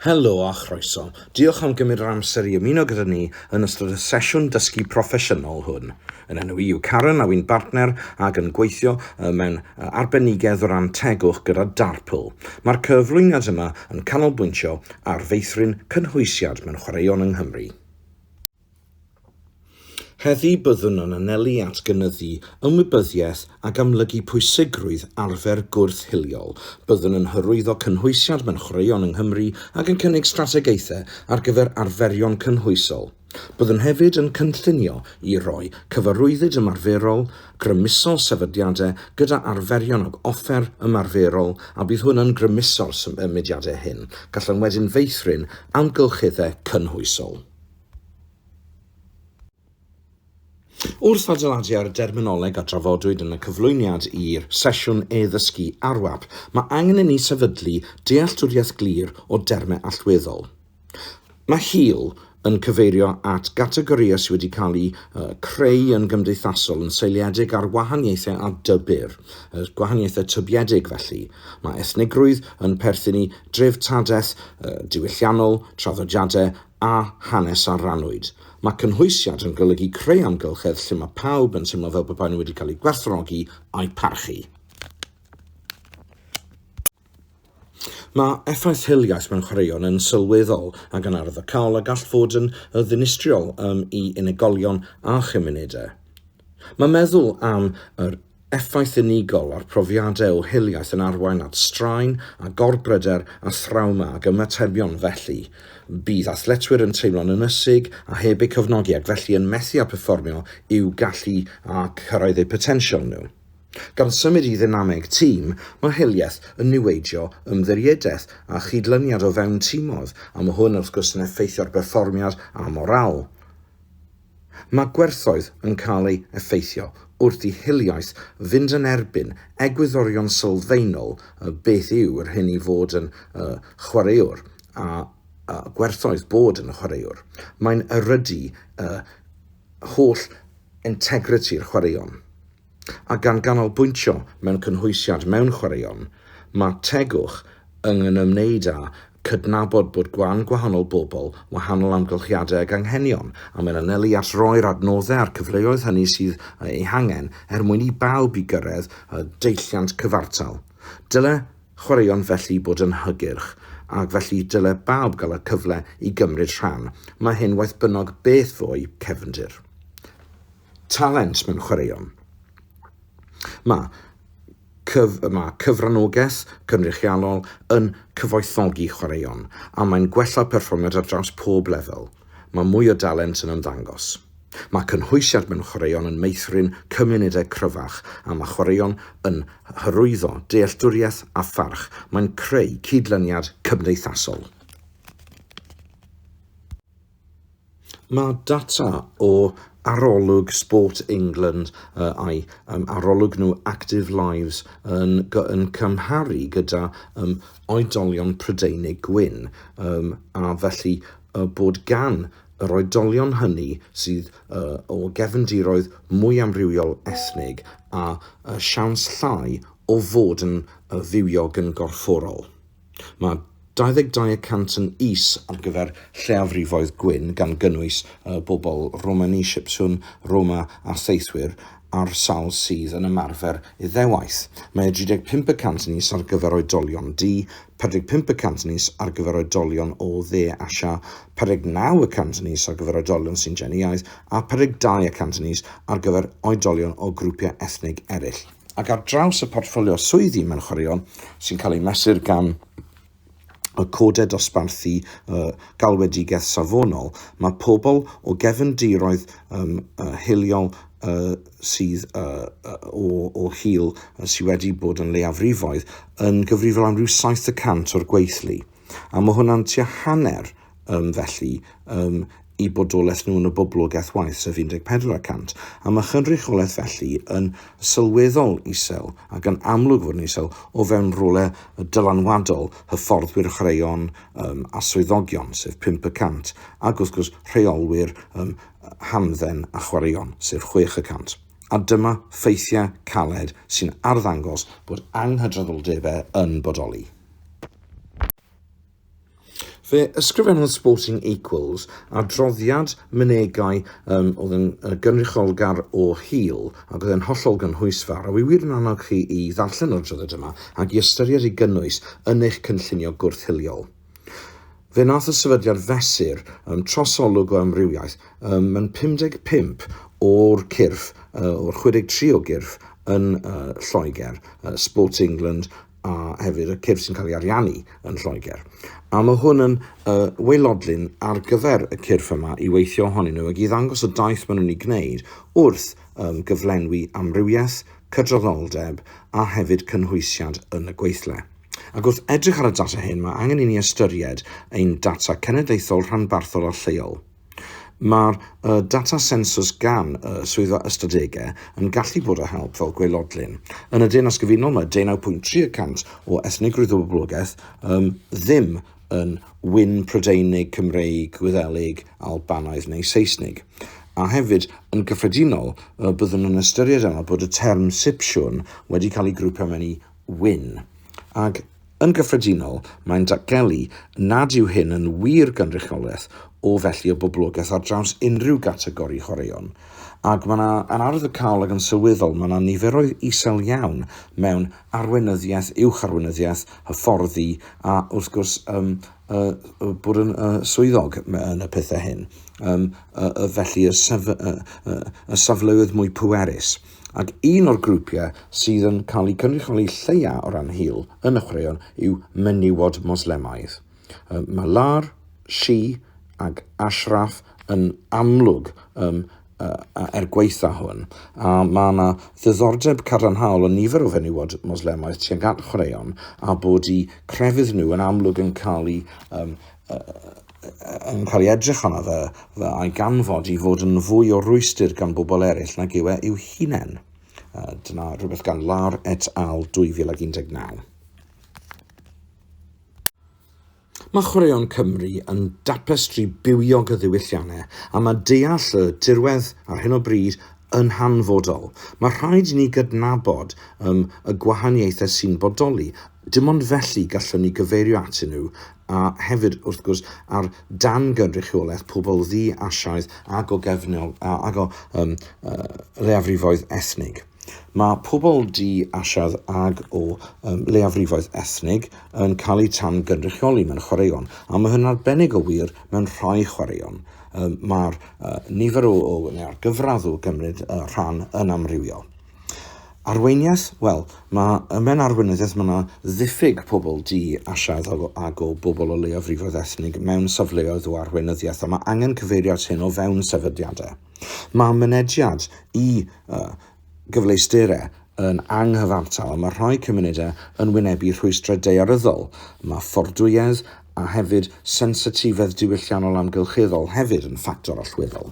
Helo a chroeso. Diolch am gymryd yr amser i ymuno gyda ni yn ystod y sesiwn dysgu proffesiynol hwn. Yn enw i yw Karen a wy'n bartner ac yn gweithio mewn arbenigedd o ran tegwch gyda Darpl. Mae'r cyflwyniad yma yn canolbwyntio ar feithrin cynhwysiad mewn chwaraeon yng Nghymru. Heddiw byddwn yn anelu at gynyddu ymwybyddiaeth ac amlygu pwysigrwydd arfer gwyrth hiliol. Byddwn yn hyrwyddo cynhwysiant mewn chwaraeon yng Nghymru ac yn cynnig strategaethau ar gyfer arferion cynhwysol. Byddwn hefyd yn cynllunio i roi cyfarwyddyd ymarferol grymusol sefydliadau gyda arferion ac offer ymarferol a bydd hwn yn grymuso'r symudiadau hyn, gallwn wedyn feithrin amgylcheddau cynhwysol. Wrth adeiladu ar y derminoleg a drafodwyd yn y cyflwyniad i'r sesiwn e-ddysgu ARWAP, mae angen i ni sefydlu dealltwriaeth glir o dermau allweddol. Mae HEAL yn cyfeirio at gategorïau sydd wedi cael eu creu yn gymdeithasol yn seiliedig ar wahaniaethau a dybyr, gwahaniaethau tybiedig felly. Mae ethnigrwydd yn perthyn i dreftadaeth diwylliannol, traddodiadau a hanes a rannwyd. Mae cynhwysiad yn golygu creu amgylchedd lle mae pawb yn teimlo fel pe baen nhw wedi cael eu gwerthfawrogi a'u parchu. Mae effaith hiliaeth mewn chwaraeon yn sylweddol ac yn ardderchog a gall fod yn ddinistriol um, i unigolion a chymunedau. Mae meddwl am yr Effaith unigol ar brofiadau o hiliaeth yn arwain at straen a gorbryder a thrawma ac ymatebion felly. Bydd athletwyr yn teimlo'n ynysig a heb eu cefnogi ac felly yn methu â perfformio i'w gallu a chyrraedd eu potensial nhw. Gan symud i ddynameg tîm, mae hiliaeth yn niweidio ymddiriedaeth a chydlyniad o fewn timoedd a mae hwn wrth gwrs yn effeithio ar berfformiad a morâl. Mae gwerthoedd yn cael eu effeithio wrth i hiliaeth fynd yn erbyn egwyddorion sylfaenol y beth yw yr hyn i fod yn y chwaraewr a y gwerthoedd bod yn y chwaraewr. Mae'n erydu y holl integriti'r chwaraeon. A gan ganolbwyntio mewn cynhwysiant mewn chwaraeon, mae tegwch yn ymwneud â chydnabod bod gwan gwahanol bobl, wahanol amgylchiadau ac anghenion, a mae'n anelu at roi'r adnoddau a'r cyfleoedd hynny sydd eu hangen er mwyn i bawb i gyrraedd y deilliant cyfartal. Dyle chwaraeon felly bod yn hygyrch, ac felly dyle bawb gael y cyfle i gymryd rhan. Mae hyn waeth bynnag beth fo'u cefndir. talent mewn chwaraeon. Mae, cyf, mae cyfranogaeth cynrychiolol yn cyfoethogi chwaraeon a mae'n gwella perfformiad ar draws pob lefel. Mae mwy o dalent yn ymddangos. Mae cynhwysiant mewn chwaraeon yn meithrin cymunedau cryfach a mae chwaraeon yn hyrwyddo dealltwriaeth a pharch. Mae'n creu cydlyniad cymdeithasol. Mae data o arolwg Sport England a'i arolwg nhw Active Lives yn cymharu gyda oedolion Prydeinig gwyn, a felly bod gan yr oedolion hynny sydd o gefndiroedd mwy amrywiol ethnig a siawns llai o fod yn fywiog yn gorfforol. Mae 22 y cant yn is ar gyfer lleiafrifoedd gwyn, gan gynnwys y bobl Romani, Sipsiwn, Roma a Theithwyr a'r sawl sydd yn ymarfer Iddewaith. Mae 35 y cant yn is ar gyfer oedolion du, 45 y cant yn is ar gyfer oedolion o Dde Asia, 49 y cant yn is ar gyfer oedolion Sintiaidd a 52 y cant yn is ar gyfer oedolion o grwpiau ethnig eraill. ac ar draws y portffolio swyddi mewn chwaraeon sy'n cael ei mesur gan y Codau Dosbarthu uh, Galwedigaeth Safonol, mae pobl o gefndiroedd um, uh, hiliol uh, sydd uh, o, o hil uh, sydd wedi bod yn leiafrifoedd yn gyfrifol am rhyw 70% o'r gweithlu. A mae hwnna'n tua hanner um, felly, um, i bodolaeth nhw yn y boblogaeth waith, sef 14 y cant. A mae chynrychiolaeth felly yn sylweddol isel ac yn amlwg fod yn isel o fewn rhywle dylanwadol hyfforddwyr chwaraeon um, a swyddogion, sef 5 y cant, ac wrth gwrs rheolwyr um, hamdden a chwaraeon, sef 6 y cant. A dyma ffeithiau caled sy'n arddangos bod anghydraddoldebau yn bodoli. Fe ysgrifennodd Sporting Equals adroddiad mynegai um, oedd yn gynrychiolgar o hil ac oedd yn hollol gynhwysfawr, a wy wir yn annog chi i ddarllen yr adroddiad yma ac i ystyried ei gynnwys yn eich cynllunio gwrth-hiliol. Fe nath y sefydliad fesur um, trosolwg o amrywiaeth um, yn 55 o'r cyrff, uh, o'r 63 o gyrff yn uh, Lloegr, uh, Sport England, a hefyd y cyrff sy'n cael ei ariannu yn Lloegr. A mae hwn yn uh, weilodlun ar gyfer y cyrff yma i weithio ohonyn nhw ac i ddangos y daith maen nhw'n ei gwneud wrth um, gyflenwi amrywiaeth, cydraddoldeb a hefyd cynhwysiad yn y gweithle. Ac wrth edrych ar y data hyn, mae angen i ni ystyried ein data cenedlaethol, rhanbarthol a lleol. Mae'r data sensws gan y Swyddfa Ystadegau yn gallu bod o help fel gwaelodlin. Yn y Deyrnas Gyfunol mae 19.3 y cant o ethnigrwydd o boblogaeth um, ddim yn wyn Prydeinig, Cymreig, Gwyddelig, Albanaidd neu Seisnig. A hefyd, yn gyffredinol, byddwn yn ystyried yna bod y term Sipsiwn wedi cael ei grwpio mewn i wyn. Ac Yn gyffredinol, mae'n datgelu nad yw hyn yn wir gynrychiolaeth o felly o boblogaeth ar draws unrhyw gategori chwaraeon. Ac mae yna, yn arwyddocaol ac yn sylweddol, mae yna niferoedd isel iawn mewn arweinyddiaeth, uwch-arweinyddiaeth, hyfforddi a, wrth gwrs, um, uh, uh, bod yn uh, swyddog yn y pethau hyn. Um, uh, uh, felly y, sef, uh, uh, y safleoedd mwy pwerus. Ac un o'r grwpiau sydd yn cael eu cynrychioli lleia o ran hil yn y chwaraeon yw menywod Moslemaidd. Ym Malar, Shi ac Ashraf yn amlwg ym er gwaetha hwn, a mae yna ddiddordeb cadarnhaol yn nifer o fenywod Moslemaidd tuag at chwaraeon a bod eu crefydd nhw yn amlwg yn cael eu yn cael ei edrych arno fe, fe a'i ganfod i fod yn fwy o rwystr gan bobl eraill nag yw e i'w hunain. Dyna rhywbeth gan Lar et al 2019. Mae chwaraeon Cymru yn dapestri bywiog y ddiwylliannau a mae deall y dirwedd ar hyn o bryd yn hanfodol. Mae rhaid i ni gydnabod um, y gwahaniaethau sy'n bodoli Dim ond felly gallwn ni gyfeirio atyn nhw, a hefyd, wrth gwrs, ar dan gynrychiolaeth pobl ddi-Asiaidd ac o gefnol ac o um, uh, leiafrifoedd ethnig. Mae pobl di-Asiaidd ac o um, leiafrifoedd ethnig yn cael eu tan gynrychioli mewn chwaraeon, a mae hyn arbennig o wir mewn rhai chwaraeon. Um, Mae'r uh, nifer o, o neu'r gyfradd o gymryd uh, rhan yn amrywiol. Arweiniaeth, wel, mae ym mewn arweinyddiaeth mae yna ddiffyg pobl di a siaddol ag o bobl o leiafrifoedd ethnig mewn safleoedd o arweinyddiaeth a mae angen cyfeirio at hyn o fewn sefydliadau. Mae mynediad i uh, gyfleusterau yn anghyfartal a mae rhai cymunedau yn wynebu rhwystrau daearyddol. Mae ffordwyedd a hefyd sensitifedd diwylliannol amgylcheddol hefyd yn ffactor allweddol.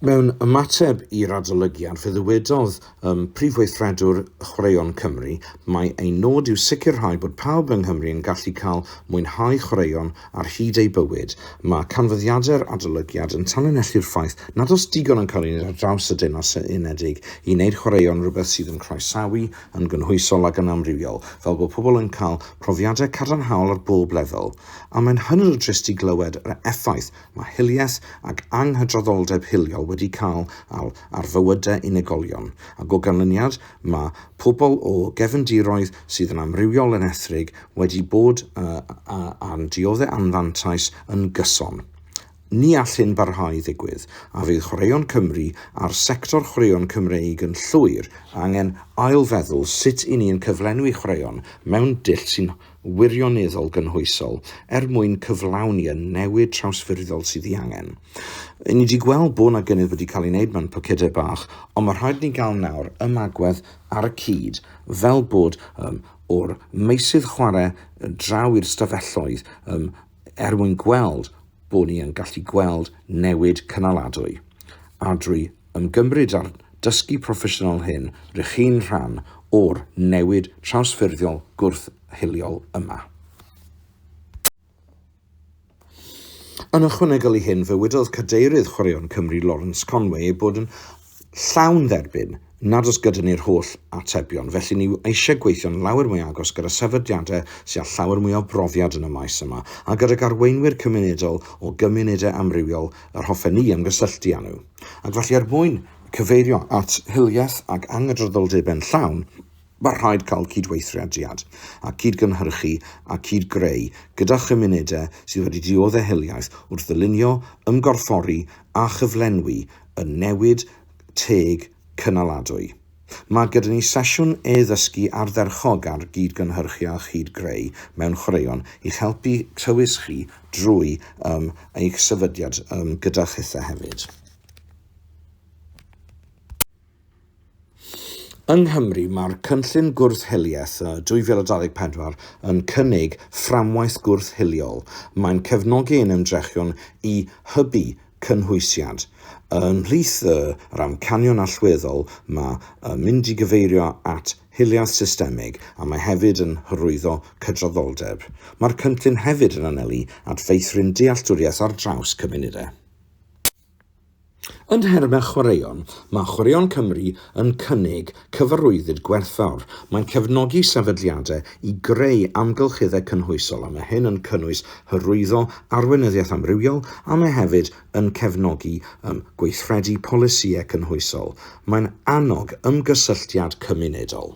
Mewn ymateb i'r adolygiad, fe ddywedodd um, Prif Weithredwr Chwaraeon Cymru, Mae ein nod yw sicrhau bod pawb yng Nghymru yn gallu cael mwynhau chwaraeon ar hyd eu bywyd. Mae canfyddiadau'r adolygiad yn tanlinellu'r ffaith nad oes digon yn cael ei wneud ar draws y Deyrnas Unedig i wneud chwaraeon rhywbeth sydd yn croesawu, yn gynhwysol ac yn amrywiol, fel bod pobl yn cael profiadau cadarnhaol ar bob lefel. A mae'n hynod o drist i glywed yr effaith Mae hiliaeth ac anghydraddoldeb hiliol wedi cael awl ar fywydau unigolion, ac o ganlyniad, mae pobl o gefndiroedd sydd yn amrywiol yn ethrig wedi bod yn dioddef anfantais yn gyson. Ni all hyn barhau i ddigwydd, a fydd Chwaraeon Cymru a'r sector chwaraeon Cymreig yn llwyr angen ail-feddwl sut 'y ni'n cyflenwi chwaraeon mewn dull sy'n wirioneddol gynhwysol er mwyn cyflawni y newid trawsffurfiol sydd ei angen. Yn ni wedi gweld bod yna gynnydd wedi cael ei wneud mewn pocedau bach, ond mae rhaid ni gael nawr ymagwedd ar y cyd fel bod um, o'r meysydd chwarae draw i'r stafelloedd um, er mwyn gweld bod ni yn gallu gweld newid cynaladwy a drwy yn gymryd a'r dysgu proffesiynol hyn rŷch chi'n rhan o'r newid trawsffurfiol gwrth-hiliol yma. Yn ychwanegol i hyn, fe wedodd Cadeirydd Chwaraeon Cymru Lawrence Conway ei bod yn llawn dderbyn nad oes gyda ni'r holl atebion, felly ni eisiau gweithio'n lawer mwy agos gyda sefydliadau sydd â llawer mwy o brofiad yn y maes yma, a gydag arweinwyr cymunedol o gymunedau amrywiol Yr hoffen ni ymgysylltu â nhw, ac felly er mwyn cyfeirio at hiliaeth ac angydraddoldeb yn llawn, mae'n rhaid cael cydweithrediad a cyd-gynhyrchu a cyd-greu gyda chymunedau sydd wedi diodde' hiliaeth wrth ddylunio, ymgorffori a chyflenwi y newid teg cynaladwy. Mae gyda ni sesiwn e-ddysgu ardderchog ar gyd-gynhyrchu a chyd-greu mewn chwaraeon i'ch helpu tywys chi drwy um, eich sefydliad um, gyda chithau hefyd. Yng Nghymru, mae'r Cynllun Gwrth-hiliaeth 2024 yn cynnig fframwaith gwrth-hiliol. Mae'n cefnogi ein ymdrechion i hybu cynhwysiant. Ymhlith yr amcanion allweddol mae yn mynd i gyfeirio at hiliaeth systemig a mae hefyd yn hyrwyddo cydraddoldeb. Mae'r cynllun hefyd yn anelu at feithrin dealltwriaeth ar draws cymunedau. Yn nhermau chwaraeon, mae Chwaraeon Cymru yn cynnig Cyfarwyddyd Gwerthfawr, mae'n cefnogi sefydliadau i greu amgylcheddau cynhwysol a mae hyn yn cynnwys hyrwyddo arweinyddiaeth amrywiol a mae hefyd yn cefnogi um, gweithredu polisïau cynhwysol. Mae'n annog ymgysylltiad cymunedol.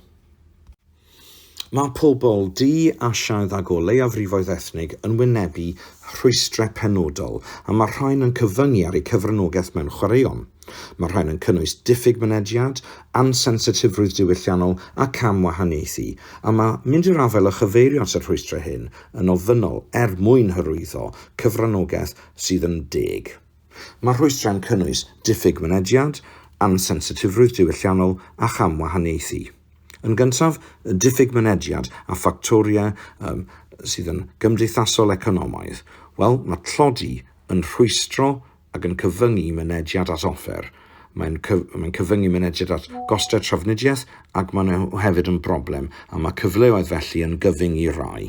Mae pobl du, Asiaidd ac o leiafrifoedd ethnig yn wynebu rhwystrau penodol a mae'r rhain yn cyfyngu ar eu cyfranogaeth mewn chwaraeon. Mae'r rhain yn cynnwys diffyg mynediad, ansensitifrwydd diwylliannol a cam-wahaniaethu, a mae mynd i'r afael â chyfeirio at y rhwystrau hyn yn ofynnol er mwyn hyrwyddo cyfranogaeth sydd yn deg. Mae'r rhwystrau'n cynnwys diffyg mynediad, ansensitifrwydd diwylliannol a chamwahaniaethu. Yn gyntaf, diffyg mynediad a ffactoriau um, sydd yn gymdeithasol economaidd. Wel, mae tlodi yn rhwystro ac yn cyfyngu mynediad at offer. Mae'n cyf mae cyfyngu mynediad at gostau trafnidiaeth ac maen nhw hefyd yn broblem a mae cyfleoedd felly yn gyfyng i rai.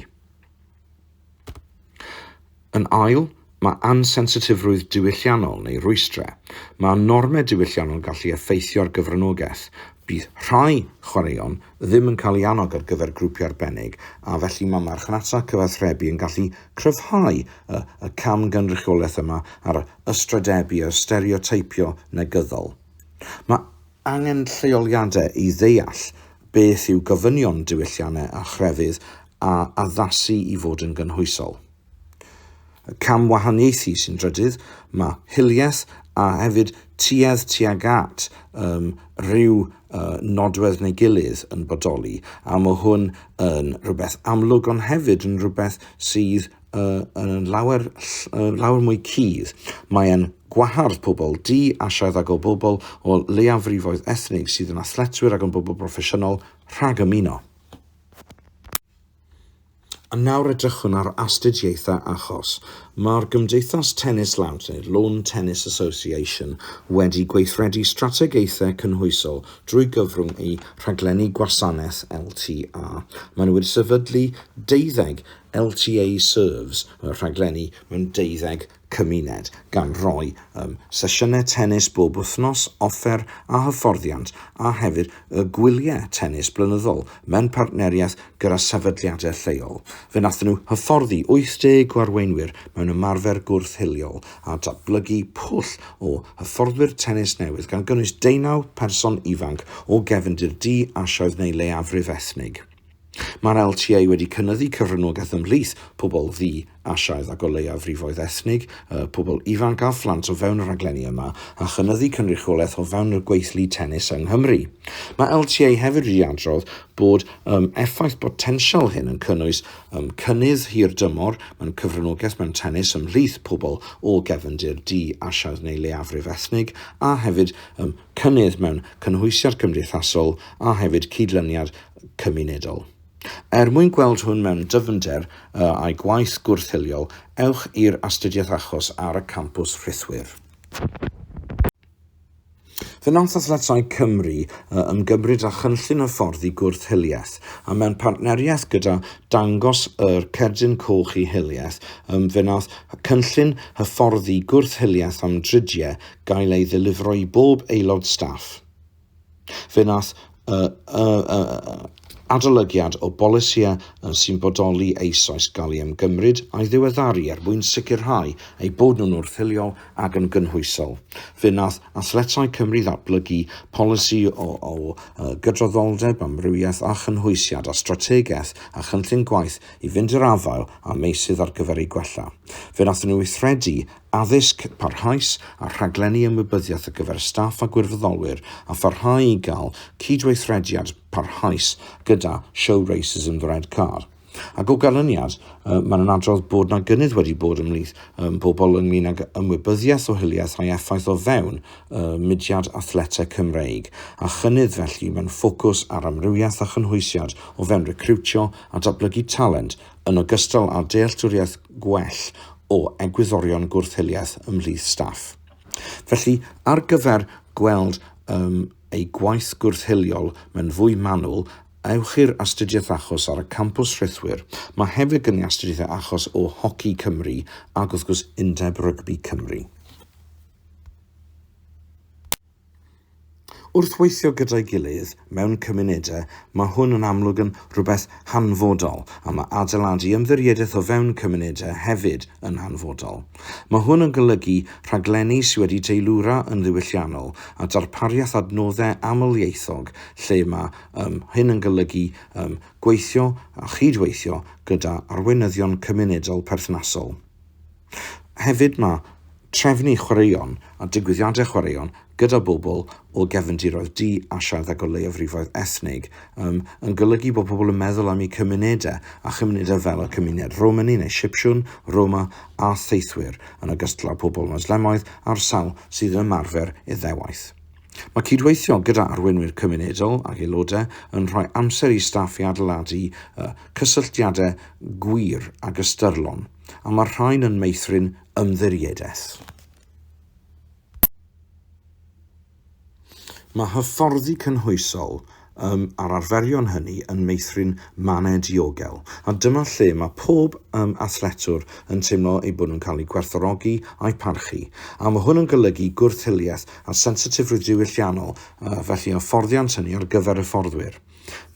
Yn ail, mae ansensitifrwydd diwylliannol neu rwystrau. Mae normau diwylliannol gallu effeithio ar gyfranogaeth. Bydd rhai chwaraeon ddim yn cael eu annog ar gyfer grwpiau arbennig, a felly mae marchnata cyfathrebu yn gallu cryfhau y y camgynrychiolaeth yma ar ystrydebu a stereoteipio negyddol. Mae Angen lleoliadau i ddeall beth yw gofynion diwylliannau a chrefydd a addasu i fod yn gynhwysol. Y cam wahaniaethu sy'n drydydd, mae hiliaeth a hefyd tuedd tuag at um, rhyw uh, nodwedd neu gilydd yn bodoli, a mae hwn yn rhywbeth amlwg ond hefyd yn rhywbeth sydd uh, yn lawer, uh, lawer mwy cudd. Mae'n gwahardd pobl di, asiaidd ac o bobl o leiafrifoedd ethnig sydd yn athletwyr ac yn bobl broffesiynol rhag ymuno. A nawr edrychwn ar astudiaethau achos. Mae'r Gymdeithas Tennis Lawnt, neu Lawn Tennis Association, wedi gweithredu strategaethau cynhwysol drwy gyfrwng ei rhaglenni gwasanaeth LTA. Maen nhw wedi sefydlu deuddeg LTA Serves y rhaglenni mewn deuddeg cymuned, gan roi um, sesiynau tennis bob wythnos, offer a hyfforddiant, a hefyd y gwyliau tennis blynyddol mewn partneriaeth gyda sefydliadau lleol. Fe wnaethon nhw hyfforddi 80 o arweinwyr mewn ymarfer gwrth-hiliol a datblygu pwll o hyfforddwyr tennis newydd, gan gynnwys deunaw person ifanc o gefndir du, Asiaidd neu leiafrif ethnig. Mae'r LTA wedi cynyddu cyfranogaeth ymhlith pobl ddu, Asiaidd ac o leiafrifoedd ethnig, y pobl ifanc a phlant o fewn y rhaglenni yma, a chynyddu cynrychiolaeth o fewn y gweithlu tennis yng Nghymru. Mae LTA hefyd wedi adrodd bod um, effaith botensial hyn yn cynnwys um, cynnydd hir dymor mewn cyfranogaeth mewn tennis ymhlith pobl o gefndir du, Asiaidd neu leiafrif ethnig, a hefyd um, cynnydd mewn cynhwysiad cymdeithasol a hefyd cydlyniad cymunedol. Er mwyn gweld hwn mewn dyfnder â'i gwaith gwrth-hiliol, ewch i'r astudiaeth achos ar y campws rhithwir. Fe wnaeth Athletau Cymru ymgymryd â chynllun hyfforddi gwrth-hiliaeth, a mewn partneriaeth gyda Dangos yr Cerdyn Coch i Hiliaeth, fe wnaeth cynllun hyfforddi gwrth-hiliaeth am dridiau gael ei ddelifro i bob aelod staff. Fe wnaeth y, y, y, y adolygiad o bolisiau sy'n bodoli eisoes gael ei ymgymryd a'i ddiweddaru er mwyn sicrhau eu bod nhw'n wrthiliol ac yn gynhwysol. Fe wnaeth Athletau Cymru ddatblygu polisi o, o, o gydraddoldeb, amrywiaeth a chynhwysiad a strategaeth a chynllun gwaith i fynd i'r afael â meysydd ar gyfer eu gwella. Fe wnaethon nhw weithredu addysg parhaus a rhaglenni ymwybyddiaeth ar gyfer staff a gwirfoddolwyr a pharhau i gael cydweithrediad parhaus gyda Show Racism the Red Card. Ac o ganlyniad, mae'n yn adrodd bod na gynnydd wedi bod ymhlith pobl ynglyn ag ymwybyddiaeth o hiliaeth a'i effaith o fewn mudiad athletau Cymreig, a chynnydd felly mewn ffocws ar amrywiaeth a chynhwysiad o fewn recriwtio a datblygu talent yn ogystal â dealltwriaeth gwell o egwyddorion gwrth-hiliaeth ymhlith staff. Felly, ar gyfer gweld um, ei gwaith gwrth-hiliol mewn fwy manwl, ewch i'r astudiaeth achos ar y campws rhithwir. Mae hefyd gen i astudiaethau achos o Hoci Cymru ac wrth gwrs Undeb Rygbi Cymru. Wrth weithio gyda'i gilydd mewn cymunedau, mae hwn yn amlwg yn rhywbeth hanfodol, a mae adeiladu ymddiriedaeth o fewn cymunedau hefyd yn hanfodol. Mae hwn yn golygu rhaglenni sydd wedi teilwra yn ddiwylliannol a darpariaeth adnoddau amlieithog lle mae um, hyn yn golygu um, gweithio a chydweithio gyda arweinyddion cymunedol perthnasol. Hefyd mae trefnu chwaraeon a digwyddiadau chwaraeon gyda bobl o gefndiroedd du, Asiaidd ac o leiafrifoedd ethnig um, yn golygu bod pobl yn meddwl am eu cymunedau a chymunedau fel y cymuned Romani neu Sipsiwn, Roma a theithwyr, yn ogystal â pobl Moslemoedd a'r sawl sydd yn ymarfer Iddewaith. Mae cydweithio gyda arweinwyr cymunedol ac aelodau yn rhoi amser i staff i adeiladu uh, cysylltiadau gwir ac ystyrlon. a mae'r rhain yn meithrin ymddiriedaeth. Mae hyfforddi cynhwysol um, a'r arferion hynny yn meithrin mannau diogel, a dyma lle mae pob um, athletwr yn teimlo eu bod nhw'n cael eu gwerthorogi a'u parchu, a mae hwn yn golygu gwrthhiliaeth a sensitifrwydd diwylliannol, uh, felly hyfforddiant hynny ar gyfer hyfforddwyr.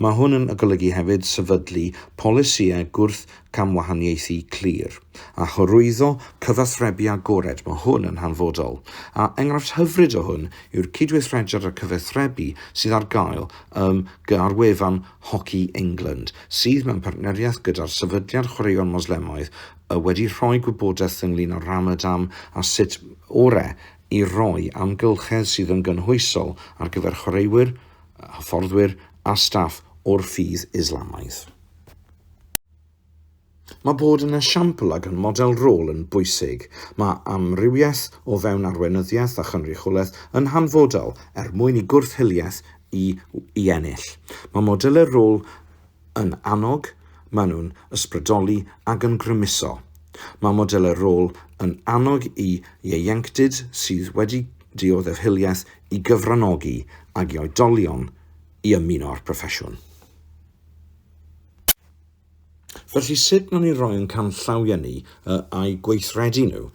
Mae hwn yn golygu hefyd sefydlu polisïau gwrth-gamwahaniaethu clir, a hyrwyddo cyfathrebu agored, mae hwn yn hanfodol, a enghraifft hyfryd o hwn yw'r cydweithrediad a cyfathrebu sydd ar gael ym gy ar wefan Hockey England, sydd mewn partneriaeth gyda'r Sefydliad Chwaraeon Moslemaidd, y wedi rhoi gwybodaeth ynglŷn â Ramadan a sut orau i roi amgylchedd sydd yn gynhwysol ar gyfer chwaraewyr hyfforddwyr a staff o'r ffydd Islamaidd. Mae bod yn esiampl ac yn model rôl yn bwysig. Mae amrywiaeth o fewn arweinyddiaeth a chynrychiolaeth yn hanfodol er mwyn i gwrth-hiliaeth i i ennill. Mae modelau rôl Yn annog, maen nhw'n ysbrydoli ac yn grymuso. Mae modelau rôl yn annog i ieuenctid sydd wedi dioddef hiliaeth i gyfranogi ag i oedolion i ymuno â'r proffesiwn. Felly, sut maen ni'n rhoi ein canllawiau ni A a'u gweithredu nhw?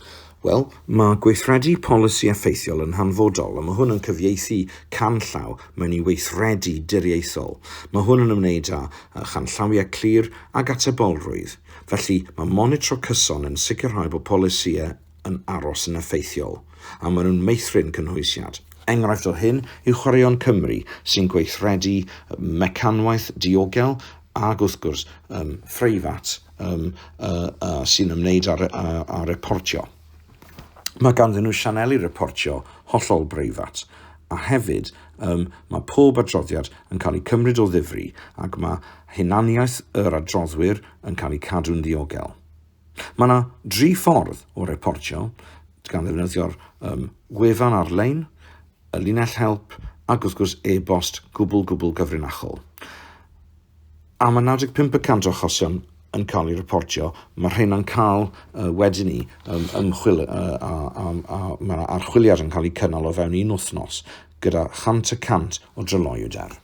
Wel, mae gweithredu polisi effeithiol yn hanfodol, a mae hwn yn cyfieithu canllaw mewn i weithredu diriaethol. Mae hwn yn ymwneud â chanllawiau clir ac atebolrwydd. Felly, mae monitro cyson yn sicrhau bod polisïau yn aros yn effeithiol, a maen nhw'n meithrin cynhwysiad. Enghraifft o hyn yw Chwaraeon Cymru, sy'n gweithredu mecanwaith diogel ac wrth gwrs, um, phreifat um, uh, uh, sy'n ymwneud â, â, â reportio. Mae ganddyn nhw sianeli reportio hollol breifat, a hefyd um, mae pob adroddiad yn cael ei cymryd o ddifri ac mae hunaniaeth yr adroddwyr yn cael ei cadw'n ddiogel. Mae yna dri ffordd o reportio, gan ddefnyddio'r um, wefan ar-lein, y linell help ac wrth gwrs e-bost gwbl gwbl gyfrinachol. A mae 95 y cant o achosion yn cael ei reportio, mae rheina'n cael uh, wedyn ni um, ymchwil uh, a, a, a mae yna archwiliad yn cael ei cynnal o fewn un wythnos gyda 100 y cant o dryloywder.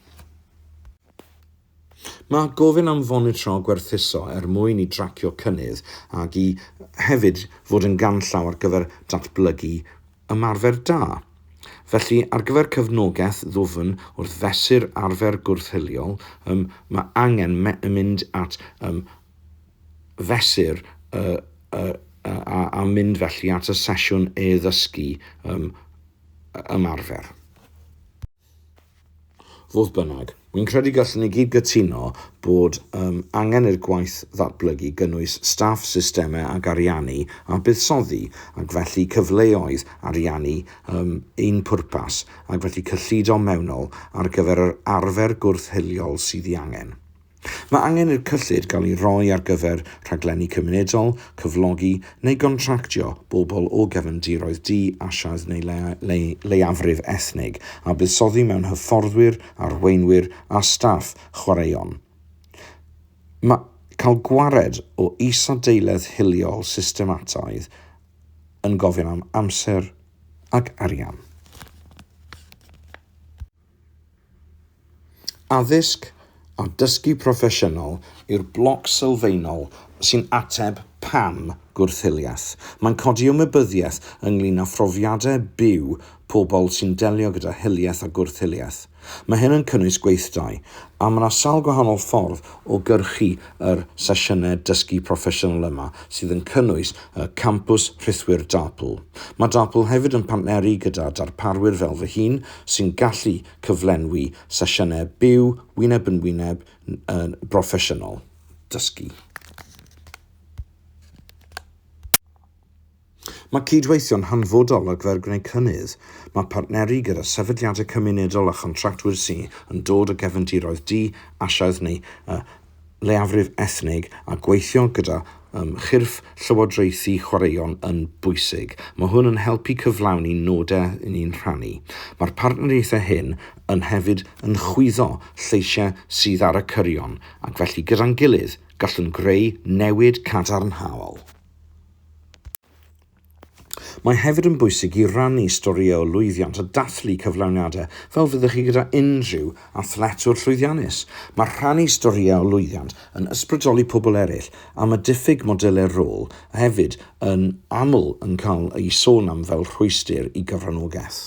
Mae gofyn am fonitro gwerthuso er mwyn i dracio cynnydd ac i hefyd fod yn ganllaw ar gyfer datblygu ymarfer da. Felly, ar gyfer cefnogaeth ddwfn wrth fesur arfer gwrth-hiliol, ym, mae angen me, mynd at ym, fesur y, y, y, a, a mynd felly at y sesiwn e-ddysgu ym, ymarfer. Fodd bynnag, wi'n credu gallwn ni gyd gytuno bod um, angen i'r gwaith ddatblygu gynnwys staff, systemau ac ariannu a buddsoddi, ac felly cyfleoedd ariannu um, un pwrpas, ac felly cyllido mewnol ar gyfer yr arfer gwrth-hiliol sydd ei angen. Mae angen i'r cyllid gael ei roi ar gyfer rhaglenni cymunedol, cyflogi neu gontractio bobl o gefndiroedd di-Asiaidd neu leiafrif ethnig, a buddsoddi mewn hyfforddwyr, arweinwyr a staff chwaraeon. Mae cael gwared o isadeiledd hiliol systemataidd yn gofyn am amser ac arian. Addysg a dysgu proffesiynol yw'r bloc sylfaenol sy'n ateb pam gwrth-hiliaeth. Mae'n codi ymwybyddiaeth ynglŷn â phrofiadau byw pobl sy'n delio gyda hiliaeth a gwrth-hiliaeth. Mae hyn yn cynnwys gweithdai, a mae 'na sawl gwahanol ffordd o gyrchu yr sesiynau dysgu proffesiynol yma, sydd yn cynnwys y Campws Rhithwir DARPL. Mae DARPL hefyd yn partneru gyda darparwyr fel fy hun, sy'n gallu cyflenwi sesiynau byw wyneb yn wyneb yn broffesiynol dysgu. Mae cydweithio'n hanfodol ar gyfer gwneud cynnydd. Mae partneru gyda sefydliadau cymunedol a chontractwyr sy'n dod o gefndiroedd di-asiaidd neu leiafrif ethnig a gweithio gyda um, chyrff llywodraethu chwaraeon yn bwysig. Mae hwn yn helpu cyflawni nodau ni'n rhannu. Mae'r partneriaethau hyn yn hefyd yn chwyddo lleisiau sydd ar y cyrion ac felly gyda'n gilydd gallwn greu newid cadarnhaol. Mae hefyd yn bwysig i rannu storïau o lwyddiant a dathlu cyflawniadau fel fyddech chi gyda unrhyw athletwr llwyddiannus. Mae rhannu storïau o lwyddiant yn ysbrydoli pobl eraill am y diffyg modelau rôl a hefyd yn aml yn cael eu sôn am fel rhwystr i gyfranogaeth.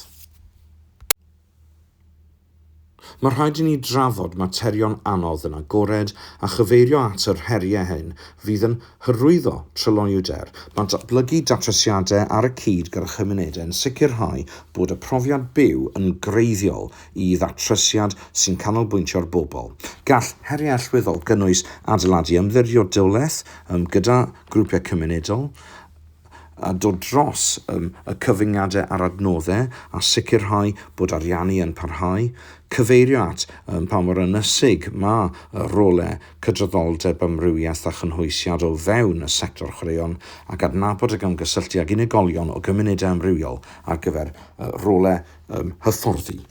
Mae rhaid i ni drafod materion anodd yn agored a chyfeirio at yr heriau hyn fydd yn hyrwyddo tryloywder. Mae datblygu datrysiadau ar y cyd gyda chymunedau yn sicrhau bod y profiad byw yn greiddiol i ddatrysiad sy'n canolbwyntio ar bobl. Gall heriau allweddol gynnwys adeiladu ymddiriedolaeth gyda grwpiau cymunedol, a dod dros um, y cyfyngiadau a'r adnoddau a sicrhau bod ariannu yn parhau, cyfeirio at um, pa mor ynysig mae y rolau cydraddoldeb amrywiaeth a chynhwysiad o fewn y sector chwaraeon ac adnabod ac ymgysylltu ag unigolion o gymunedau amrywiol ar gyfer uh, rolau um, hyfforddi.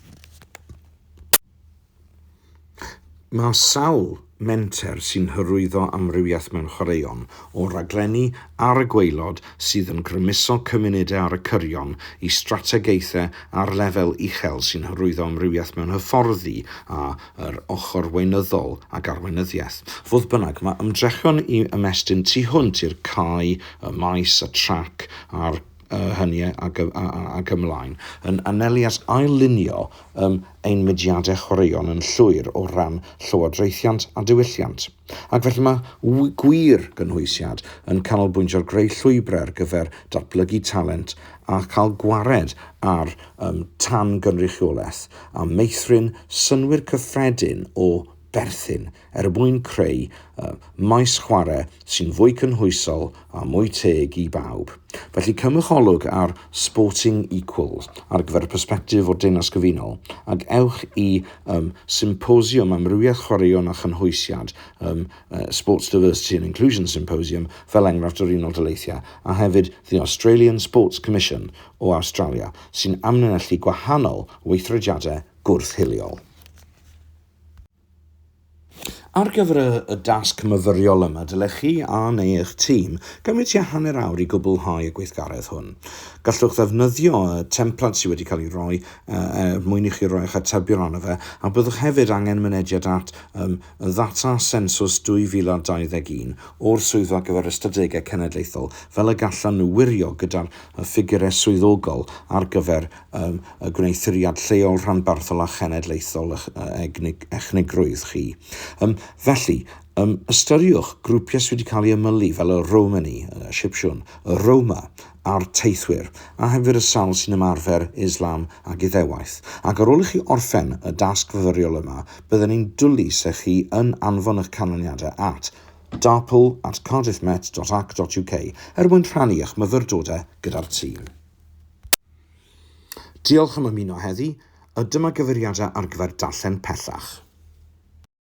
Mae sawl menter sy'n hyrwyddo amrywiaeth mewn chwaraeon, o raglenni ar y gwaelod sydd yn grymuso cymunedau ar y cyrion i strategaethau ar lefel uchel sy'n hyrwyddo amrywiaeth mewn hyfforddi a yr ochr weinyddol ac arweinyddiaeth. Fodd bynnag, mae ymdrechion i ymestyn tu hwnt i'r cae, y maes, y trac a'r uh, hynny ac, ac ymlaen, yn anelu at ail-lunio um, ein mudiadau chwaraeon yn llwyr o ran llywodraethiant a diwylliant. Ac felly mae gwir gynhwysiad yn canolbwyntio'r greu llwybrau ar gyfer datblygu talent a cael gwared ar um, tan gynrychiolaeth a meithrin synwyr cyffredin o berthyn er mwyn creu maes chwarae sy'n fwy cynhwysol a mwy teg i bawb. Felly cymycholwg ar Sporting Equals ar gyfer y persbectif o'r Deyrnas Gyfunol, ac ewch i um, Symposiwm Amrywiaeth Chwaraeon a Chynhwysiad, um, uh, Sports Diversity and Inclusion Symposium, fel enghraifft yr Unol Daleithiau, a hefyd The Australian Sports Commission o Awstralia, sy'n amlinellu gwahanol weithrediadau gwrth-hiliol. Ar gyfer y dasg myfyriol yma, dylech chi a neu eich tîm gymryd tua hanner awr i gwblhau y gweithgaredd hwn. Gallwch ddefnyddio y templad sydd wedi cael ei roi er mwyn i chi roi eich atebion arno fe, a byddwch hefyd angen mynediad at y ddata sensws 2021 o'r Swyddfa gyfer Ystadegau Cenedlaethol fel y gallan nhw wirio gyda'r ffigurau swyddogol ar gyfer y gwneuthuriad lleol, rhanbarthol a chenedlaethol eich echnigrwydd chi. Felly, ystyriwch grwpiau sydd wedi cael eu ymylu fel y Romani, y Sipsiwn, y Roma a'r Teithwyr, a hefyd y sawl sy'n ymarfer Islam ac Iddewaith. Ac ar ôl i chi orffen y dasg fyfyriol yma, bydden ni'n dwlu se chi yn anfon eich canlyniadau at darpl at cardiffmet.ac.uk er mwyn rhannu eich myfyrdodau gyda'r tîm. Diolch am ymuno heddi, a dyma gyfeiriadau ar gyfer darllen pellach.